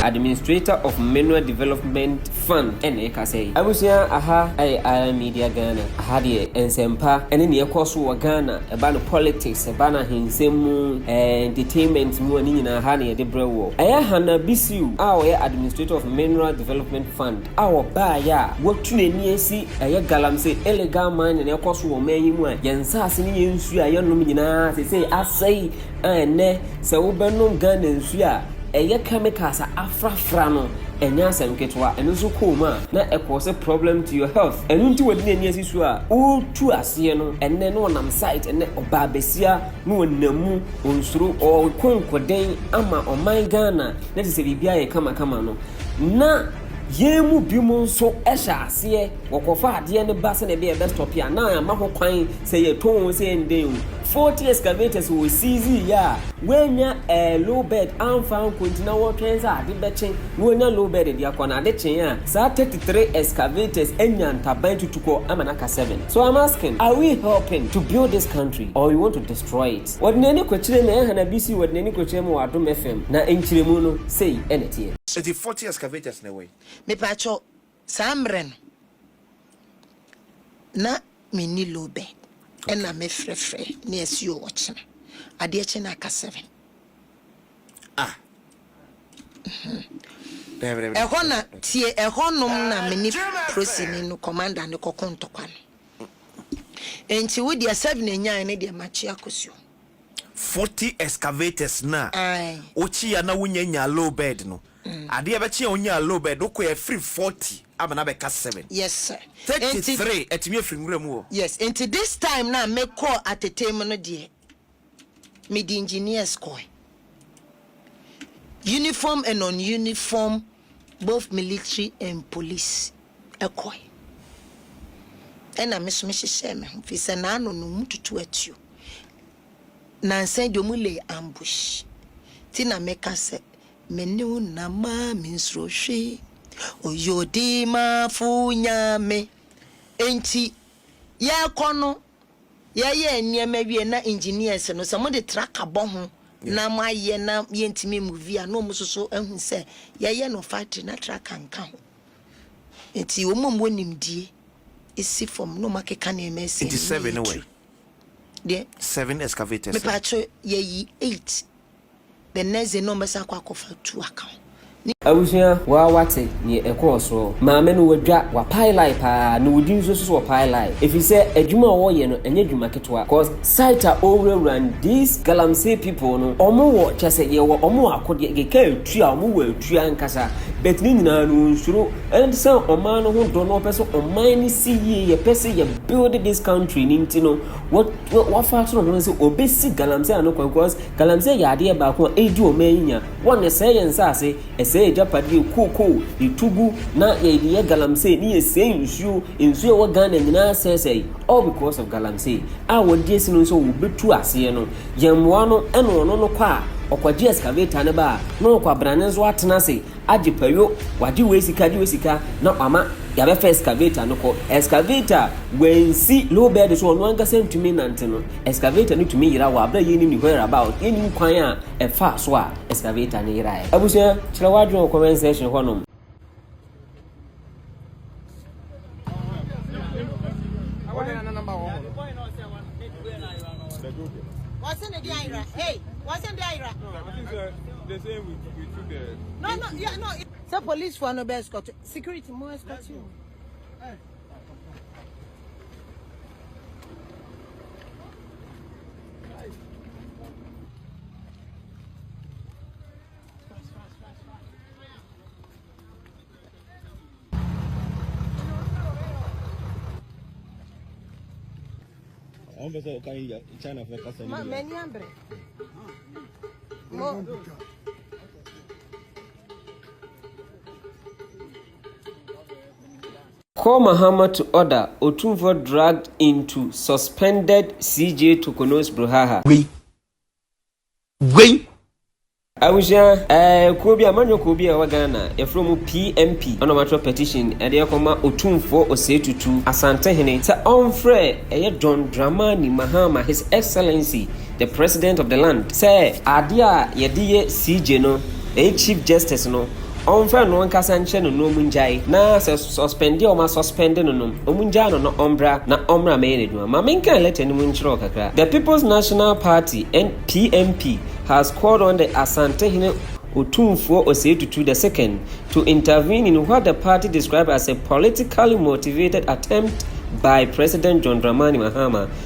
Administrator of Manoa Development Fund na ɛkasa yi. Abusua aha ɛyɛ Island Media Ghana, aha deɛ nsɛmpa ɛne nea ɛkɔ so wɔ Ghana, ɛba no politics, ɛba no ahensɛm mu, ɛɛ entertainment mu a ne nyinaa aha na yɛde brɛ woɔ. Ɛyɛ Hannah Bisiw a ɔyɛ Administrator of Manoa Development Fund. a wɔbaeɛ a wɔatu n'ani asi ɛyɛ galamsey illegal mining na ɛkɔ so wɔ ɔman yi mu a yɛn nsaase ne yɛn nsuo a yɛnom nyinaa seesei asɛe a ɛnnɛ sɛ wobɛnom Ghana nsuo a ɛyɛ chemicals a afrafra no ɛnyɛ asɛm ketewa ɛno nso kɔɔ mu a na ɛkɔɔ sɛ problem to your health ɛno nti wɔde n'ani asi so a ɔretu aseɛ no ɛnnɛ na ɔnam site ɛnnɛ ɔbaa bɛsia na ɔnam mu ɔnsuro ɔrekɔ nkɔden ama ɔman Ghana na te sɛ biribiara yɛ kamakama no, na yɛn mu binom nso hyɛ aseɛ wɔkɔfa adeɛ no ba sɛdeɛ ɛbɛyɛ ɛbɛstɔpe a na ama ho kwan sɛ yɛtɔn o sɛ ɛndɛn o faulty excavators wɔ siizi yɛ a wɔanya ɛɛ low bed amfa anko nti na wɔtwɛn sɛ ade bɛkye na wɔanya low bed de akɔ na ade kyee a saa 33 excavators anya ntaban tutukɔ ama no aka 7 so I'm asking are we helping to build this country or we want to destroy it Wɔde n'ani kɔkyerɛɛ mu, ɛha na bi si wɔde n'ani kɔkyerɛɛ mu wɔ Adom FM, na nkyerɛmu no, sei na ɛteɛ. Eti forty excavators na ɛwɔ yi. Mepakyɛw, saa mmerɛ no na menni low bed, ɛna me frɛfrɛ ne asuo ɔkyena, adeɛ kye na aka seven. Ah! Ɛhɔ na, tie, ɛhɔ nom na me ne prosini no, commander no kɔko ntɔkwa no. Enti wo deɛ seven a nyae no deɛ makye akɔ suo. Forty excavators no a Ae. wokyea na wonya nyaa low bed no, adeɛ bɛkye a wonyaa low bed no kɔe a firi forty abɛn abɛka seven. Yes sir. Thirty Enti three atumi afiri nwura mu hɔ. Yes, enti this time no a mekɔɔ Atetee mu no deɛ mede engineers kɔe. Uniform and non-uniform, both military and police kɔe. Ɛna me nso mehyehyɛɛ me ho firi sɛ n'ano no wɔn tutu atuo. Nansa deɛ wɔn lay ambush. Ti na meka sɛ me ne wo nam maa me nsuro hwee. Oye odimafo Nyame. Enti yɛkɔ no. Yɛyɛɛ nneɛma wiei na engineers no sɛ mode tracker bɔ ho na moayɛ na yɛntumi mmuvi a na wɔn nso so ahu sɛ yɛyɛ no factory na tracker nka ho. Nti wɔn a wɔwɔ nimdie si fam na wɔakeka nneɛma asi Nti anim na seven wɛ? yɛretu. Deɛ? Seven excavators wɛ? Mepatwo yɛyi eight. The next day na wɔn bɛsan akɔ akɔfa two account ne. Abusua waa wate neɛ ɛkɔɔ soɔ. Maame no wadwa, wapae line paa na wodi nso so ɔpae line ɛfirisɛ adwuma a ɔyɛ no ɛnyɛ adwuma ketewa cause site a ɔwurawura no these galamsey people no ɔmo wɔ kyɛsɛ yɛwɔ ɔmo akodeɛ kɛkɛ atua ɔmo wɔ atua ankasa but ne nyinaa no ɔnsuro ɛnde sɛ ɔman no ho dɔ na ɔpɛsɛ ɔman no si yie yɛpɛsɛ yɛ build this country no nti no wafa soro ho no sɛ ɔbɛsi galamsey ano kwan cause Galamsey yɛ adeɛ baako a ɛredi ɔman yi nya, wɔn na ɛsɛe yɛn nsaase, ɛsɛe yɛn agyapadeɛ, kookoo, yɛtu gu na yɛde yɛ galamsey ne yɛsɛe nsuo, nsuo a ɛwɔ Ghana nyinaa asɛesɛe all because of galamsey a wɔde asi no sɛ wɔbɛtu aseɛ no, yɛmmoa no ɛna ɔno no kɔ a ɔkɔgye excavator no ba a na ɔkɔ abrane nso atena ase agye payo, wagye wei sika, agye wei sika na wama yɛabɛfa excavator no kɔ, excavator a wɔansi low bed so ɔno ankasa ntumi nnante no. Excavator no tumi yera wɔ abere a yennim ne whereabout, yennim kwan a ɛfaa so a excavator no yerae. Abusua, kyerɛ w'adwene wɔ comment section hɔnom. Sɛ polisfoɔ no bɛ escort wo, security mo escort wo. wọn bɛ sɛ ɔka yi china fɛ kasa ni. ma mɛ ni abirɛ. mo. Col Mahamutu order Otumfuo dragged into suspended CJ Tokonos Bruhaha. Wei. Wei. Abusua ɛɛ kuo bi amanyɔ kuo bi a ɛwɔ Ghana yɛfrɛ mu PMP ɛna wɔn atwerɛ petition ɛde ɛkɔma Otumfoɔ Osei Tutu Asantehene sɛ ɔnfrɛ ɛyɛ John Dramani Mahama His Excellency the president of the land, sɛ adeɛ a yɛde yɛ CJ no, ɛyɛ Chief Justice no, ɔmfa ɛno ankasa nkyerɛ no na ɔmu ngyae, na sɛ suspend a ɔma suspend no no, ɔmu ngyaa no na ɔmbra na ɔmmra mmɛyɛ n'adwuma. Ma menkan letter no mu nkyerɛ wo kakra. The People's National Party, PNP, has called on the Asantehene Otumfuo Osei Tutu the Second to intervene in what the party described as a politically motivated attempt by President John Dramani Mahama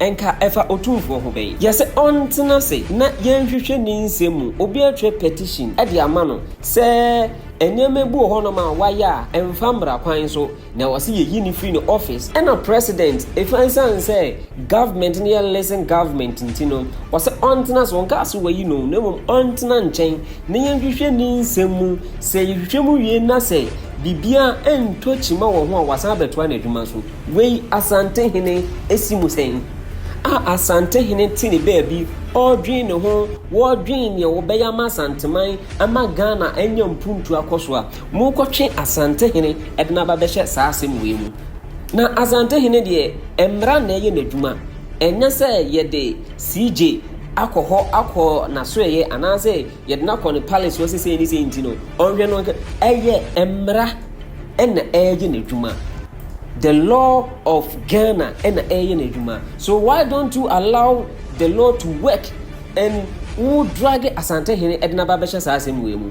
Nka ɛfa Otumfoɔ ho bɛn? Yɛ sɛ ɔntena ase na yɛnhwehwɛ ne nsɛm mu. Obi atwerɛ petition de ama no sɛ nneɛma bi wɔ hɔnom a wayɛ a ɛmfa mmara kwan so, na ɔse yɛyi no firi ne office. Ɛna President, ɛsiane sɛ government no yɛ listen government nti no, ɔse ɔntena ase, ɔnkaa sɛ wayi no, na mmom ɔntena nkyɛn na yɛnhwehwɛ ne nsɛm mu. Sɛ yɛhwehwɛ mu wie na sɛ biribiara ntɔ kyima wɔ ho a, wasan abɛtoa n'adwuma so. Wei Asantehene si mu sɛn? A Asantehene te ne baabi, ɔredwen ne ho, wɔredwen neɛ wɔbɛyɛ ama Asanteman, ama Ghana anya mpuntu akɔ so a, morekɔtwe Asantehene de no aba bɛhyɛ saa asɛm wei mu. Na Asantehene deɛ, mmara na ɛyɛ n'adwuma. Ɛnyɛ sɛ yɛde CJ akɔ hɔ akɔ n'asoɛeɛ anaasɛ yɛde no akɔ ne palace hɔ sɛ sei ne sei nti no, ɔnhwɛ no, ɛyɛ mmara na ɛreyɛ n'adwuma. The law of Ghana ɛna ɛyɛ n'adwuma. So why don't you allow the law to work and wo drag Asante hene ɛde n'aba bɛhyɛ saa asɛm wei mu.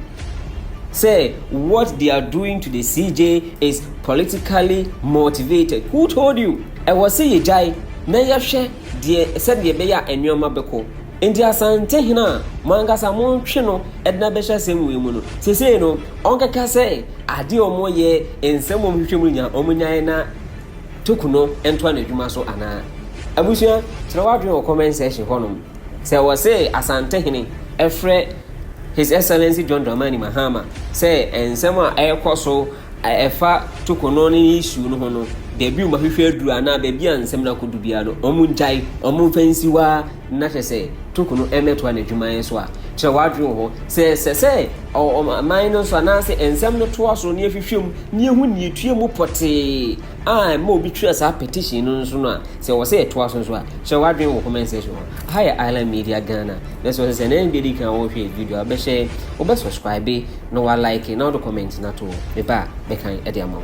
Say what they are doing to the CJ is politically motivated. Who told you? Ɛwɔ sɛ yɛgyae na yɛhwɛ deɛ sɛdeɛ ɛbɛyɛ a nneɛma bɛkɔ. Enti Asante hene a mo ankasa moretwe no de no abɛhyɛ asɛm wei mu no, seesei no, ɔnkɛka sɛ adeɛ a wɔyɛ, nsɛm a wɔhwehwɛ mu nya wɔn nyaeɛ na Toku no ntoa n'adwuma so anaa? Abusua, kyerɛ w'adwene wɔ comment section hɔnom. Sɛ wɔse Asante hene frɛ His Excellency John Dramani Mahama sɛ nsɛm a ɛrekɔ so a ɛfa Toku no ne issue no ho no, baabi a wɔahwehwɛ aduru anaa baabi a nsɛm no akɔdu biara no, wɔngyae, wɔmfa nsi hɔ ara. na hwɛ sɛ toko no mmɛtoa n'adwuma nso a. Kyerɛ w'adwene wɔ hɔ. Sɛ ɛsɛ sɛ ɔman no nso anaasɛ nsɛm no toa so na yɛhwehwɛ mu na yɛhu nea ɛtua mu pɔtee a ɛma obi twerɛ saa petition no nso no a, sɛ ɛwɔ sɛ ɛtoa so nso a, kyerɛ w'adwene wɔ comment section hɔ. Ha yɛ Island Media Ghana na sɛ ɔsɛ sɛ ɛnɛ bɛdi kan wɔhwɛ video a, wobɛhyɛ, wobɛ subscribe na wa like na wode comment no ato hɔ. Meba a, mɛkan de ama wo.